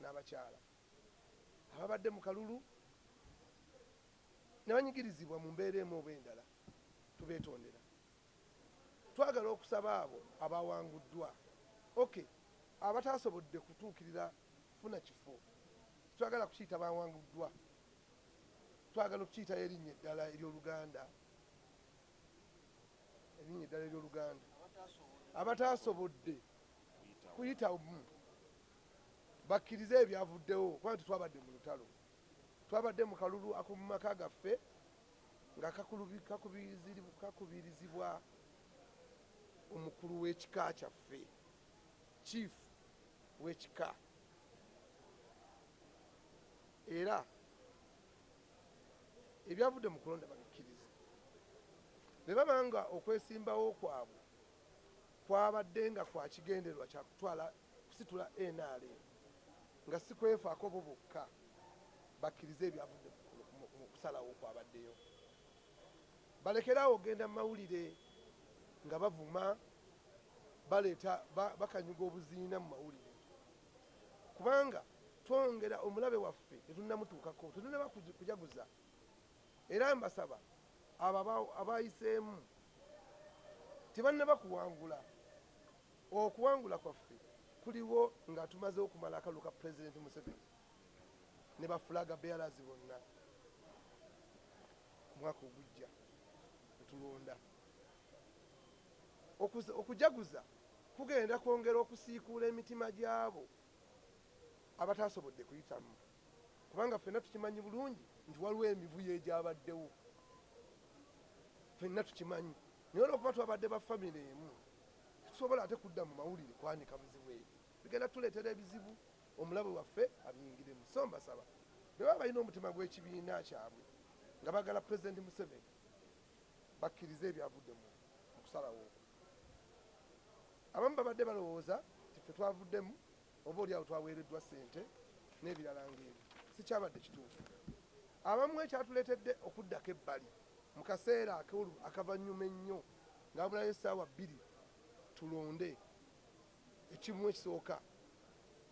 n'abakyala ababadde mu kalulu ne banyigirizibwa mu mbeera emu oba endala tubeetondera. Twagala okusaba abo abaawanguddwa ok abataasobodde kutuukirira kufuna kifo twagala kukiyita baawanguddwa twagala okukiyitayo erinnya eddala ery'oluganda erinnya eddala ery'oluganda abataasobodde kuyitamu bakkirize ebyavuddewo kubanga tetwabadde mu lutalo, twabadde mu kalulu ak'omu maka gaffe nga kakubirizibwa omukulu w'ekika kyaffe, Chief w'ekika era ebyavudde mu kulonda babikkirize ne baba nga okwesimbawo kwabwe kwabadde nga kwa kigendererwa kya kutwala kusitula nrm nga si kwefaako bo bokka bakkirize ebyavudde mu kusalawo okwabaddeyo balekere awo okugenda mu mawulire nga bavuma baleeta bakanyuga obuziina mu mawulire kubanga twongera omulabe waffe tetunnamutuukako tetunnaba kujaguza Era mbasaba abo abaayiseemu tebannaba kuwangula, okuwangula kwaffe kuliwo nga tumaze okumala akalulu ka Pulezidenti Museveni ne ba Flag Bearers bonna omwaka ogujja tulonda. Okujaguza kugenda kwongera okusiikuula emitima gy'abo abataasobodde kuyitamu. kubanga ffenna tukimanyi bulungi nti waliwo emivuyo egyabaddewo ffenna tukimanyi naye olwokuba twabadde ba famire emu tusobola ate kudda mu mawulire kwanika buzibu ebyo bigenda tuleetera ebizibu omulabe waffe abiyingiremu so mbasaba beba balina omutima gw'ekibiina kyabwe nga bagala pulezidenti museveni bakkirize ebyavudde mu kusalawo abamu babadde balowooza nti fe twavuddemu oba oli awo twaweereddwa ssente n'ebirala ng'ebyo, sikyabadde kituufu. Abamu ekyatuleetedde okuddako ebbali mu kaseera akavannyuma ennyo nga wabulayo essaawa bbiri tulonde ekimu ekisooka,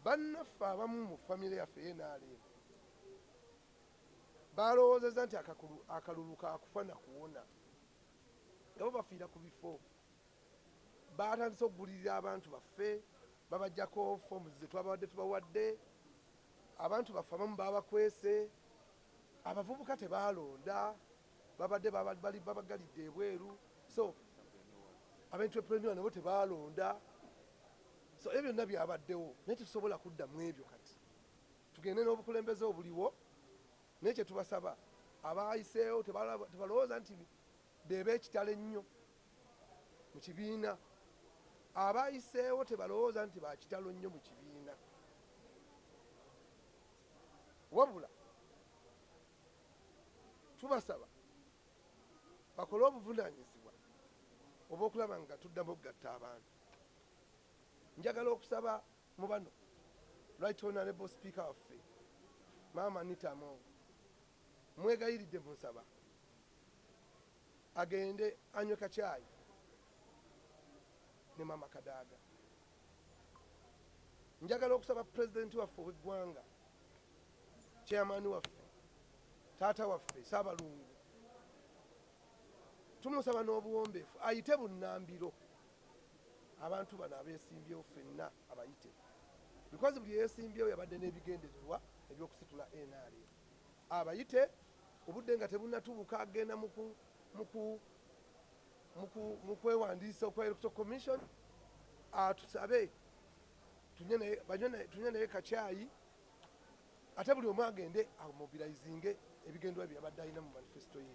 bannaffe abamu mu famire yaffe eya nrm baalowoozezza nti akalulu ka kufa na kuwona nga bo bafiira ku bifo. Baatandise okugulirira abantu baffe, babaggyako ffoomu ze twababadde tubawadde, abantu baffe abamu baabakwese, abavubuka tebaalonda, babadde babaggalidde ebweru, so abentreprenua nabo tebaalonda, so ebyo byonna byabaddewo naye tetusobola kudda mu ebyo kati. Tugende n'obukulembeze obuliwo naye kye tubasaba abaayiseewo tebalowooza nti be b'ekitalo ennyo mu kibiina. Abayiseewo tebalowooza nti ba kitalo nnyo mu kibiina, wabula tubasaba bakole obuvunaanyizibwa obw'okulaba nga tuddamu okugatta abantu. Njagala okusaba mu bano Right Honorable Speaker waffe Maama Anita Among Mmwegayiridde mbu nsaba agende anywe kacaayi ne maama Kadaga. Njagala okusaba Pulezidenti waffe ow'eggwanga, Chairman waffe, taata waffe Ssaabalungu, tumusaba n'obuwombeefu ayite bunnambiro abantu bano abeesimbyewo ffenna abayite because buli eyeesimbyewo yabadde n'ebigendererwa eby'okusitula nrm. abayite obudde nga tebunatubuka agenda mu kwewandiisa okwa Electoral Commission atusabe tunywe naye kacaayi ate buli omu agende amobilizinge ebigendwa bye yabadde alina mu manifesto ye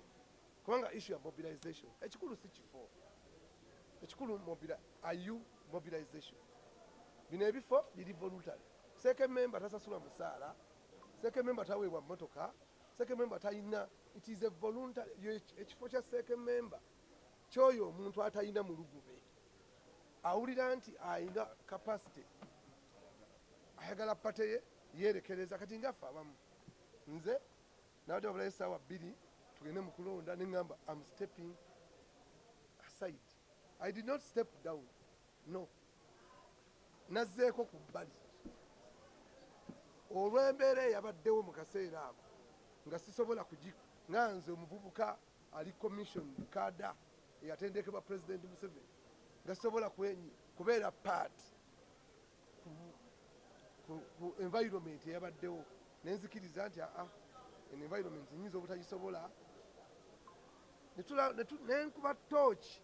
kubanga issu ya mobilization ekikulu si kifo ekikulu ayu mobilization bino ebifo biri voluntary seeke memba tasasula musaala Ssekememba taweebwa mmotoka, ssekememba talina, it is a voluntary, ekifo kya ssekememba kyoyo omuntu atalina mulugube awulira nti alina capacity ayagala pate ye yerekereza kati ngaffe abamu nze nabadde babulayo esaawa bbiri tugende mu kulonda ne ŋŋamba am stepping aside i did not step down no nazzeeko ku bbali olw'embeera eyabaddewo mu kaseera ako nga sisobola kugi nga nze omuvubuka ali commissioned kaada eyatendekebwa Pulezidenti Museveni nga sisobola kwenyi kubeera part ku, ku, ku environment eyabaddewo nenzikiriza nti aa en environment nyinza obutagisobola nenkuba tooki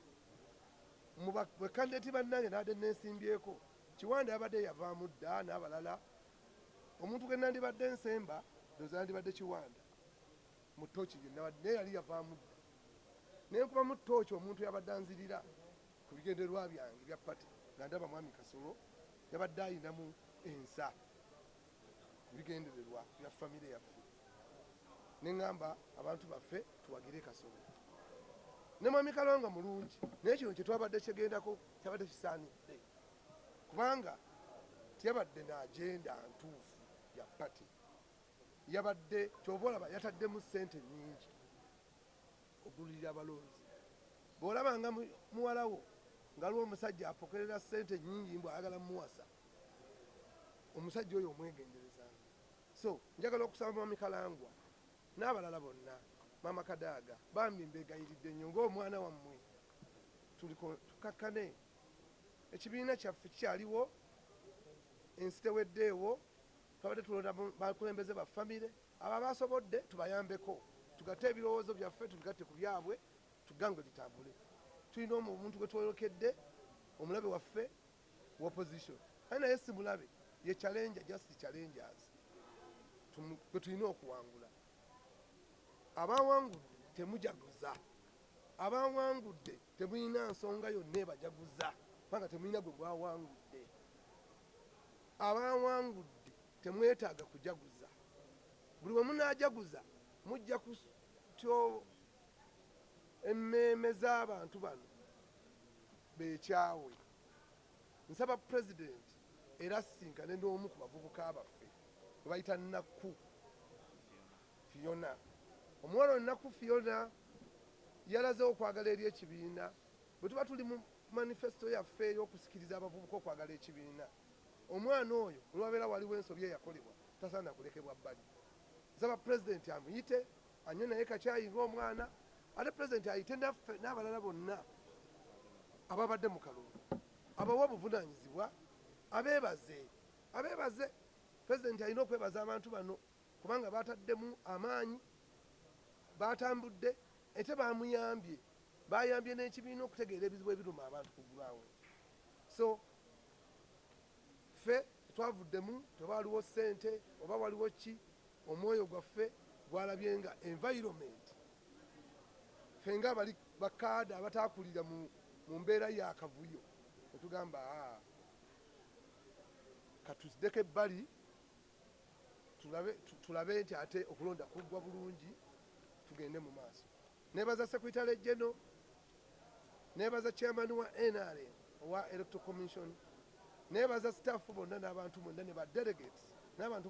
Mu ba kandideti bannange nabadde nneesimbyeko, Kiwanda yabadde yavaamu dda n'abalala. Omuntu gwe nandibadde nsemba ndowooza yandibadde Kiwanda mu ttooki gye nabadde naye yali yavaamu dda. Ne nkubamu ttooci omuntu eyabadde anzirira ku bigendererwa byange ebya ppate nga ndaba mwami Kasolo yabadde alinamu ensa. bigendererwa bya famire yaffe neŋamba abantu baffe tuwagire kasolo ne mwami kalonga mulungi naye kino kyetwabadde kyegendako kyabadde kisaanidde kubanga teyabadde naagenda ntuufu ya pati yabadde kyova olaba yataddemu sente nyingi okudulirira abalonzi bwolabanga muwalawo ngaliwo omusajja apokerera sente nyingi mbw ayagala muwasa omusajja oyo omwegenderezanga so njagala okusaba mwami kalangwa n'abalala bonna maama kadaaga bambi mbegayiridde nnyo ng'omwana wammwe tukakkane ekibiina kyaffe kikyaliwo ensi teweddeewo twabadde tulonda bakulembeze ba famire abo abasobodde tubayambeko tugatte ebirowoozo byaffe tubigatte ku byabwe tugange litambule tulina omuntu gwe twoyokedde omulabe waffe wa opposition kale naye simulabe ye challenge just challengers kwetulina okuwangula abawangudde temujaguza abawangudde temulina nsonga yonna ebajaguza kubanga temulina gwe gwawangudde abawangudde temwetaaga kujaguza buli wemunajaguza mujja kutyo emmeeme z'abantu bano beekyawe. Nsaba Pulezidenti era asisinkane n'omu ku bavubuka baffe gwe bayita Nakku Phiona. Omuwala ono Nakku Phiona yalaze okwagala eri ekibiina. Bwe tuba tuli mu manifesito yaffe ey'okusikiriza abavubuka okwagala ekibiina, omwana oyo olwabeera waliwo ensobi eyakolebwa tasaana kulekebwa bbali. Nsaba Pulezidenti amuyite Anywe naye kakyayi nga omwana ate president ayite naffe n'abalala bonna ababadde mu kalulu abawe obuvunanyizibwa abebaze abebaze president alina okwebaza abantu bano kubanga bataddemu amaanyi batambudde ete bamuyambye bayambye n'ekibiina okutegeera ebizibu ebiruma abantu ku gulaawo so ffe twavuddemu tewaliwo ssente oba waliwo ki Omwoyo gwaffe gwalabye nga environment ffe nga abali ba kaada abataakulira mu mu mbeera ya kavuyo ne tugamba haa ka tuzdeko ebbali tulabe tulabe nti ate okulonda kuggwa bulungi tugende mu maaso. Neebaza Secretary General, neebaza Chairman wa nrm owa Electoral Commission, neebaza staff bonna n'abantu mwenna ne ba delegates n'abantu